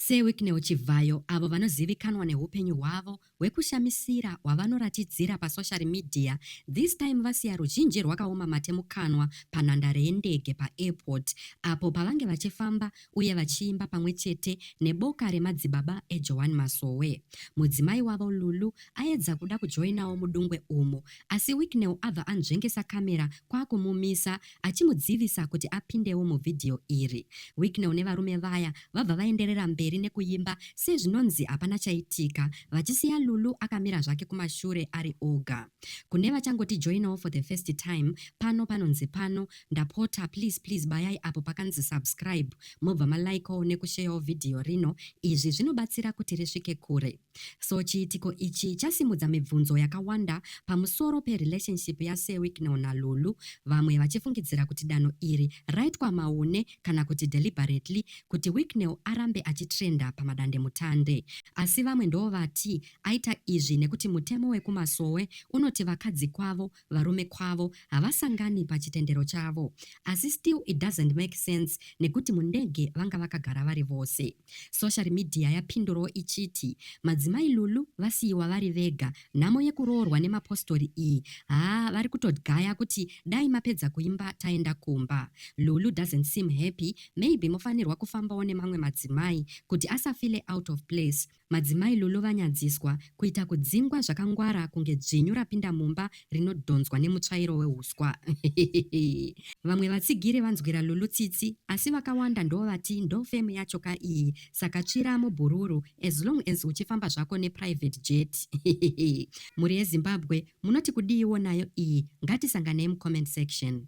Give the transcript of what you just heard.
SeWicknell Chivhayo, avo vanozivikanwa nehupenyu hwavo hwekushamisira hwavanoratidzira pasoshari midhiya, this time vasiya ruzhinji rwakaoma mate mukanwa panhandare yendege paAirport apo pavange vachifamba uye vachiimba pamwe chete neboka remadzibaba eJoan Masowe. Mudzimai wavo, Lulu, aedza kuda kujoinawo mudungwe umu asi Wicknell abva anzvengesa camera kwakumumisa achimudzivisa kuti apindewo muvhidhiyo iri. Wicknell nevarume vaya vabva vaenderera mberi nekuimba sezvinonzi hapana chaitika vachisiya Lulu akamira zvake kumashure ari oga. Kune vachangotijoinawo for the first time, pano panonzi pano, ndapota please please bayai apo pakanzi subscribe mobva malikewo nekusheyawo vhidhiyo rino, izvi zvinobatsira kuti risvike kure. So chiitiko ichi chasimudza mibvunzo yakawanda pamusoro perelationship yaSewicknell naLulu, vamwe vachifungidzira kuti danho iri raitwa maune kana kuti deliberately kuti Wicknell arambe achitrenda pamadandemutande. Asi vamwe ndovati aita izvi nekuti mutemo wekumasowe unoti vakadzi kwavo varume kwavo havasangani pachitendero chavo asi still it doesn't make sense nekuti mundege vanga vakagara vari vose. Social media yapindurawo ichiti madzimai Lulu vasiyiwa vari vega, nhamo yekuroorwa nemapostori iyi haa vari kutodgaya kuti dai mapedza kuimba taenda kumba. Lulu doesn't seem happy maybe mofanirwa kufambawo nemamwe madzimai kuti asafile out of place Madzimai Lulu vanyadziswa kuita kudzingwa zvakangwara kunge dzvinyu rapinda mumba rinodhonzwa nemutsvairo wehuswa. Vamwe vatsigiri vanzwira Lulu tsitsi asi vakawanda ndovati ndofame yacho ka iyi saka tsvira mubhururu as long as uchifamba zvako neprivate jet. Mhuri yeZimbabwe munoti kudiiwo nayo iyi ngatisanganei mucomment section.